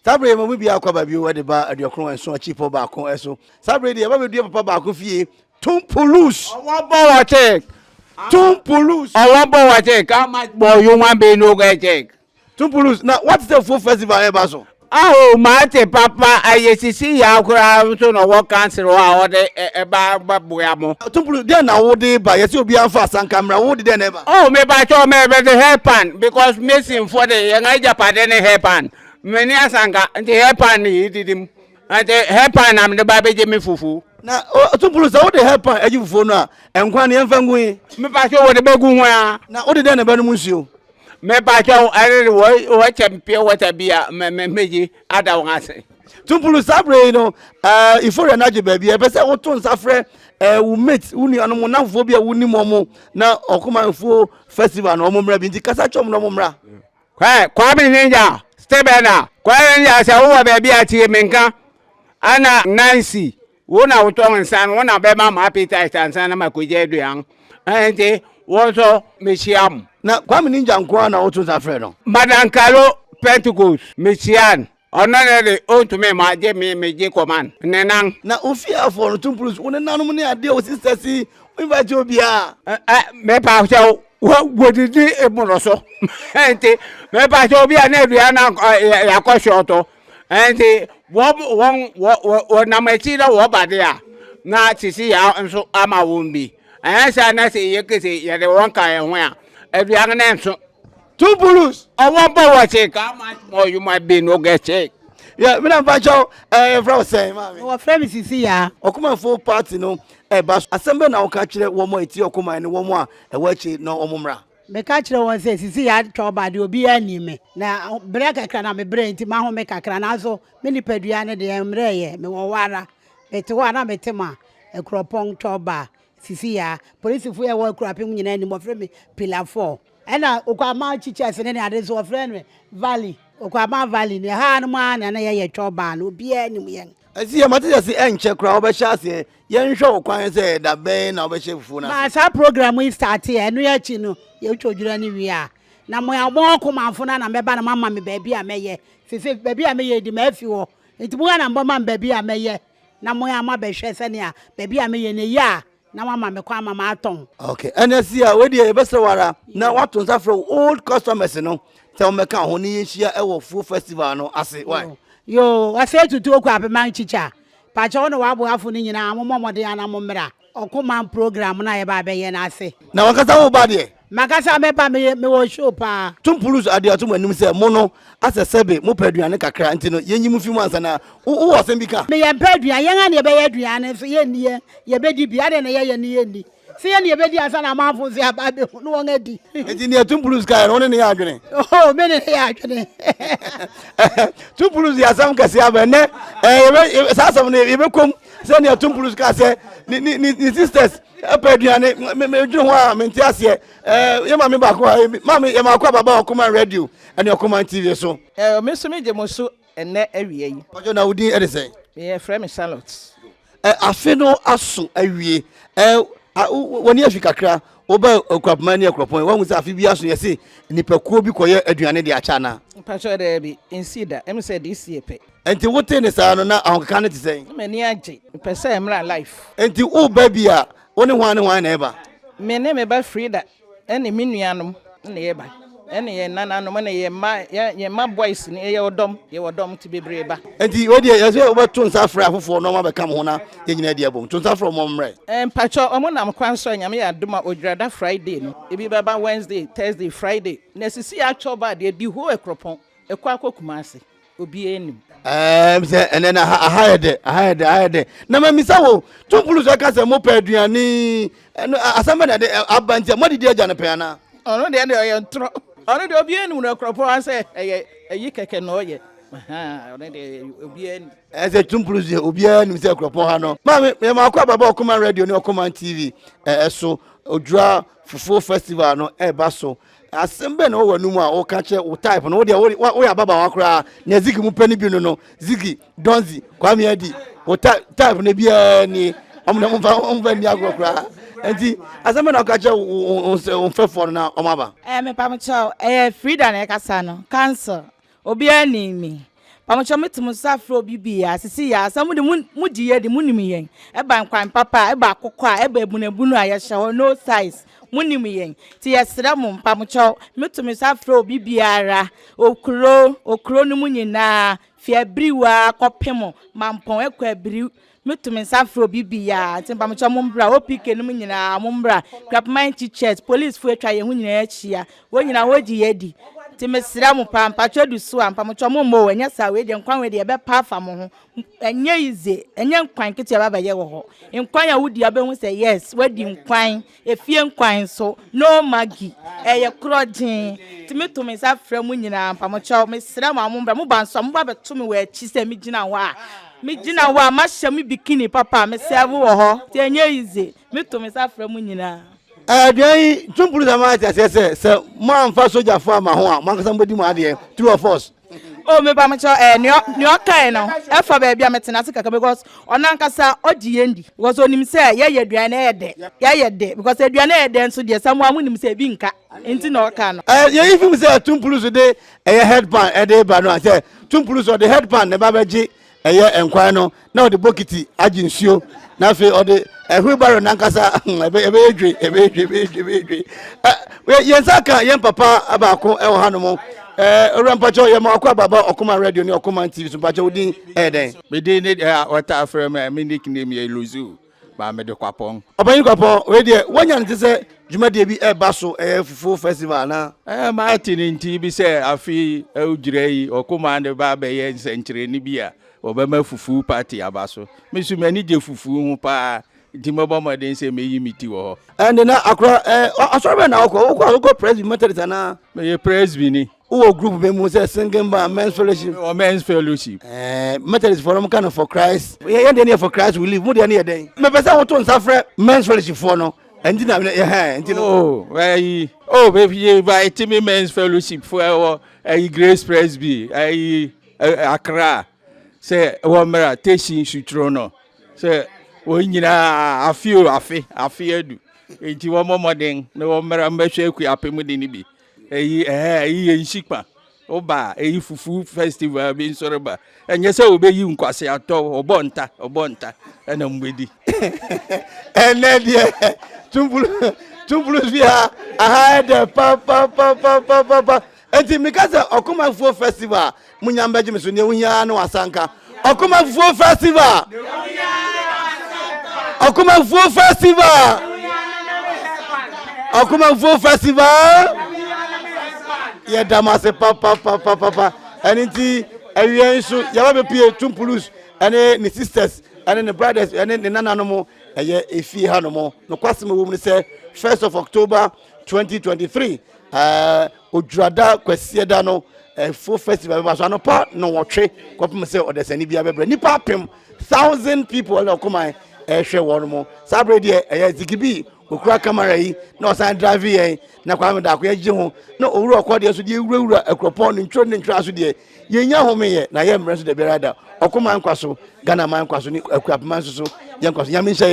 Saa berɛ yi mo mu biara kɔ aba bio de ba aduɔkron nson akyi pɔ baako so. Saa berɛ yi deɛ ɛba bɛdua papa baako fie. Tum pulus. Ɔwɔ bɔ wɔ kyɛk. Tum pulus. Ɔwɔ bɔ wɔ kyɛk. How much bɔ human being no get check? Tum pulus. Na wate sɛ fuo festival ɛba so? Aho mate papa ɛyɛ sisi yaw koraa nso na ɔwɔ council hɔ a ɔde ɛba bɛboa mo. Tum pulus. Deɛ na wode ba yɛsɛ obiara mfa asanka mmra wode deɛ na ɛba? Oh mepakyɛw mɛbɛde hair pan because masonfoɔ de yɛn agyapade ne hair pan M'ani asa anka nti hair pan na yɛyi didi mu nti hair pan na mede ba bɛgye me fufuo. Na ɔtumpulu sɛ wode hair pan agye fufuo no a nkwan no yɛmfa ngu he? Mepakyɛ wɔde bɛgu ho a. Na wode dɛn na ɛbɛnom nsuo? Mepakyɛ wo ɛne de wɔkyɛ me pure water bi a mɛgye ada wɔn ase. Tumpulu saa berɛ yi no euphoria no agye baabi ɛpɛ sɛ woto nsa frɛ wo mate wo nuanom wo namfofoɔ bi a wonim wɔn na ɔkoma mfuo festival no wɔn mmra bi nti kasa kyɛm na wɔn mmra. Kwae Kwame Hengya Stebena Kwae Hengya sɛ wowɔ baabi a tie me nka Ana Nancy wo na wotɔ nsa no wo na bɛma ma appetite ansa na makɔgya aduan ɛnti wo nso mehyia mo. Na Kwame Ningya nko ara na woto nsa frɛ no? Madam Kalo Pentecost mehyia no. Ɔno ne de ontumi mma gye me megye kɔma ne nan. Na ofie afoɔ no to mpuru so, wo nenanom ne adeɛ a wɔsi sɛsi, womfakyɛ obiara. Ɛ ɛ mepakyɛ wo, wɔ wɔdidi mmoroso, nti mepakyɛ obi a na aduane no ankɔ ɛ yɛakɔ hyɔɔto, nti wɔn wɔn wɔ wɔ wɔnam akyi na wɔba de a, na sisi yɛ nso ama wɔn bi. Ɛnyɛ saa na sɛ yɛkese yɛde wɔn ka yɛn ho a, aduane no nso. Two bulus ɔwɔ bɔ wɔ se ka ama mɔ you might be no gɛ se. Yɛ mina mpa kyɛw ɛɛ yɛ fira wɔ sɛn maa mi. Wɔ fira mi sisi yaa. Ɔkuma fo party no ɛba so asɛm bɛ na ɔka kyerɛ wɔn a ɛti ɔkuma ɛne wɔn a ɛwɔ akyi na wɔn mra. Me ka kyerɛ wɔn sɛ sisi yaa twa ɔba adeɛ obi yaa ni me na brɛ kakra na me brɛ nti ma home kakra nanso me nipa dua ne deɛ mmerɛ yɛ me wɔ hɔ ara me te hɔ a na me te ma ɛkurɔpɔn twa ɔba sisi yaa polisi fo yɛ wɔ ɛkurɔpem nyinaa ni mɔfrɛ me pilafo. Ɛna Okwama Teachers no ne ade nso wɔfrɛ no Valley. Okwama Valley no ɛha no mu ara na na yɛyɛ twɔ baa no obiara nim yɛn. Ɛsi yɛ mate sɛ se ɛnkyɛ koraa wobɛhyɛ aseɛ yɛnhwɛ wo kwan sɛ da bɛn na wobɛhyɛ fufuo no ase. Maa saa program yi starte ɛ, ɛno akyi no yɛtwa odwira no wie a na mo a mowɔ Kumamfo no na mɛba na moama me baabi a mɛyɛ. Seesei baabi a meyɛ yi de mafi hɔ nti mo ara na mobɛma me baabi a mɛyɛ na mo ara moabɛhwɛ sɛnea baabi a meyɛ no ɛyɛ a na wama me kwan ma matɔn. okay ɛnɛ si a wei deɛ yɛbɛsrɛ wo ara na wato nsa frɛ wo old customers no sɛ wɔmmɛka ho ne yɛnhyia ɛwɔ fuo festival no ase wa yo ɔsɛ tutu oku apema nkyikyɛ a pakyɛ wo ne w'aboafo no nyinaa mommɔ mmɔden ana mommra ɔko man program no a yɛba abɛyɛ no ase na wankasa wo ba deɛ Makasa mɛba meyɛ mewɔ show paa. Tom Pulus ade ato mo anim sɛ mo no asɛ sɛbe mopɛ aduane kakra nti no yɛnyi mo fi mu ansa na wo wowɔ asɛm bi ka? Meyɛ mpɛ aduan yɛn a na yɛbɛyɛ aduan no nso yɛnni yɛn yɛbɛdi bi adɛn na yɛyɛ no yɛnni sɛ yɛn na yɛbɛdi ansa na amanfo nso aba abɛhu no wɔn adi. Nti nea Tom Pulus kaeɛ no wo ne ne yɛ adwene? Oho me ne ne yɛ adwene. Tom Pulus de asɛm kɛseɛ aba ɛnɛ eh, saa asɛm no yɛbɛkɔm sɛ nea Tom Pulus kaa sɛ ne sisters Ɛpɛ aduane me me dwene ho a me nte aseɛ ɛɛ yɛ maame baako ha ebi maame yɛ maako ababa ɔkoma radio ɛne ɔkoma tv so. Ɛɛ me nso me gye mo so ɛnɛ awia yi. Mpatsɔ na wo din ɛde sɛn. Yɛ frɛ me Charlotte. Ɛɛ afe no aso awie ɛɛ a wo ni afi kakra wo ba ɔkurapoma ɛne ɛkurɔpɔn wɔn sɛ afe bi aso yɛ se nipakuo bi kɔ yɛ aduane de akyɛ anaa. Mpatsɔ dɛɛbi nsi da ɛmu sɛ de si yɛ pɛ. Enti wotee ne saa no, na ahokeka no te sɛn? Na m'ani agye. Mepɛ sɛ ɛmmra life. Enti woreba bi a, wo ne hwan ne hwan na ɛreba? Me ne me ba Frida ne me nuanom na yɛreba, ne yɛn nananom ne yɛn mma, yɛn mma boys no, yɛyɛ ɔdɔm, yɛwɔ dɔm nti bebree reba. Enti wo deɛ, yɛsɛ wobɛto nsa afrɛ afoforɔ na wɔabɛka mo ho na yɛn nyinaa adi abom. To nsa afrɛ wɔn ma wɔmmrɛ. Mpakyɛ, wɔnam kwan so a, Nyame yɛ adom a, Odwirada Friday no, ebi bɛba Wednesday, Thursday, Friday, na ɛsisi yɛ atwɔba a deɛ, di hoo Akuropɔn, ɛkɔ akɔ Kumasi. obi anim. ɛɛm sɛ ɛnɛ na aha aha yɛ dɛ aha yɛ dɛ aha yɛ dɛ na ma misa wo tumpulu sɛ ka sɛ mo pɛ aduane ɛno asɛm bɛ na ɛde aba nti a mo adidi agya no pɛn anaa. ɔno deɛ deɛ ɔyɛ ntorɔ ɔno deɛ obi anim na kurɔpɔn asɛ ɛyɛ ɛyi kɛkɛ na ɔyɛ ɔno deɛ obi anim. ɛsɛ tumpulu sɛ obiara nim sɛ kurɔpɔn ha no maame mɛma akɔ ababa ɔkoma radio ne ɔkoma tv ɛso odwura fufuo festival no ɛba so asɛm bɛn na ɔwɔ w'anom a woka kyerɛ wo type no wodeɛ woyɛ ababawa koraa na zigi mu pɛ no bi no no zigi donzi kwame adi wo type no biaa ni ɔmo na ɔmfa nni agorɔ koraa nti asɛm bɛn na woka kyerɛ wo mfɛfoɔ no na ɔmo aba ɛɛ eh, mepa mo kyɛw ɛyɛ eh, frida na ɛkasa no cancel Obiara nim me. Pamokyɛw me to mo nsa frɛ obi bi a sisi yɛ asɛ mo de mo mo gye yɛ de mo nim yɛn. Ɛba nkwan papa a, ɛba akokɔ a, ɛba ebunebunu a yɛhyɛ hɔ no size. Mo nim yɛn. Ti yɛ srɛ mo pamokyɛw me to me nsa frɛ obi biara. Okuro, okuro no mu nyinaa, fi abiriwa kɔ pemo, mampɔn ɛkɔ abiriw. Meto me nsa frɛ obi biara nti mpamokyɛ ɔmo mbra OPK no mu nyinaa ɔmo mbra Krapoman teachers polisifo atwa yɛn ho nyinaa ahyia wɔn nyinaa wɔn gye yɛ adi nti mesrɛ mo paa mpakyɛ edu so a mpamokyɛ ɔmo mmɔ o ɛnyɛ saa wei deɛ nkwan wei deɛ ɛbɛpa afa mo ho ɛnyɛ yize ɛnyɛ nkwan ketewa bɛbɛyɛ wɔ hɔ nkwan a wodi a wobɛhu sɛ yes wadi nkwan. Efie nkwan nso, no maggi, ɛyɛ korɔgyee, nti me to me nsa frɛ mo nyinaa ampa, mo kyɛw, me srɛ mo a mo mbra, mo ba nso a mo ba bɛ to me wɔ akyi sɛ me gyina hɔ a, me gyina hɔ a, ma hyɛ me bikini papa a, me sɛɛve wɔ hɔ, nti ɛnyɛ easy, me to me nsa frɛ mo nyinaa. Aduan yi, Twum Police ama ate aseɛ sɛ, sɛ mo amfa sogyafo amma ho a, mo ankasa mo bɛdi mo adeɛ, true or false? o me ba mo kyɛ eh nea nea ɔkae no ɛfa baabi a metena ase kaka because ɔno ankasa ɔgye yɛn di because onim sɛ yɛyɛ aduane na ɛyɛ dɛ yɛyɛ dɛ because aduane ɛyɛ dɛ nso deɛ samu amu nim sɛ ebi nka nti na ɔka no. ɛɛ yɛyi fi mu sɛ tumpulu so de ɛyɛ headpan ɛde ba no a sɛ tumpulu so ɔde headpan na ɛba bɛgye ɛyɛ nkwan no na ɔde bokiti agye nsuo na afei ɔde ɛhuri baro nankasa ɛbɛyɛ dwe ɛbɛyɛ dwe ɛbɛyɛ dwe ɛbɛyɛ dwe yɛn nsa ka yɛn papa baako ɛwɔ ha nom ɛɛ owura mpakyɛw yɛ ma ɔkɔ ababa ɔkoma radio ne ɔkoma tv so mpakyɛw din ɛyɛ dɛn. mi din ne ɛɛ ɔta afrɛ mi mi nick name yɛ luzu. Maame de kwapɔn. Ɔpanyin kwapɔn wei deɛ wanya ne ti sɛ dwumadie bi ɛba so ɛyɛ fufuo festival anaa. Ɛɛ maa te ne nti bi sɛ afi ɛwugyira yi ɔkoma ne ba abɛyɛ nsɛnkyerɛni bi a ɔbɛma fufuo party aba so. Me nso m'ani gye fufuo ho paa nti mɛbɔ mmɔden sɛ meyi me ti wɔ hɔ. Ɛnde na akora ɛɛ asɔre bɛn na ɔkɔ ɔkɔ ɔkɔ presby methodist anaa. Meyɛ presby ni. Wowɔ group bɛ mu sɛ singing band men's fellowship. Wɔ men's fellowship. Ɛɛ Methodist fɔ no ka no for Christ. Yɛ yɛn deɛ ne yɛ for Christ we live mo deɛ ne yɛ dɛn. Mepɛ sɛ woto nsa frɛ men's fellowship foɔ no ɛnti na yɛ hɛn ɛnti no. Oh ɛyi oh bɛ fi yɛ ba ɛti mi men's fellowship foɔ ɛwɔ ɛyi Grace Presby ɛyi Accra sɛ wɔ mmerɛ tɛsi nsuturo no sɛ wɔn nyinaa afe o afe afe adu ɛnti wɔn mɔmɔden na wɔn mmerɛ mbɛhwɛ akua apɛ mu de ne bi. eyi ɛhɛ eyi yɛ nhyikpa woba eyi fufu festival bi nsɔre ba ɛnyɛ sɛ obeyi nkwasi atɔ ɔbɔ nta ɔbɔ nta ɛna mo bedi ɛnɛ deɛ tumpulu tumpulu bi ha aha ɛdɛ papapapapapa eti mi ka sɛ ɔkomafoɔ festival munya mbɛgye me so nea wohia ara ne w'asanka ɔkomafufuo festival ɔkomafufuo festival ɔkomafufuo festival yɛda mo ase papapapapa ɛne nti awia nso yɛba bɛpie tumpulus ɛne ne sisters ɛne ne brothers ɛne ne nananom ɛyɛ efie ha nom nokwasɛm ɛwɔ mu no sɛ first of october 2023 ɛɛ Odwurada Kwasiada no ɛfo festival bɛba so anɔpa nnɔnwɔtwe kɔpem sɛ ɔdasani biara bɛbrɛ nnipa apem thousand people ɛna ɔkoman ɛhwɛ wɔn mo saa bere deɛ ɛyɛ zigibi okura kamara yi na ɔsan drive yɛn na kwame daako yɛgye ho na owura ɔkɔ deɛ so deɛ ewurawura akuropɔn ne ntwere ne ntwere aso deɛ yɛnya home yɛ na yɛ mmerɛ nso da biara da ɔkoman nkwa so ghana man nkwa so ne akuapema nso so yɛn nkwa so nyame nhyɛ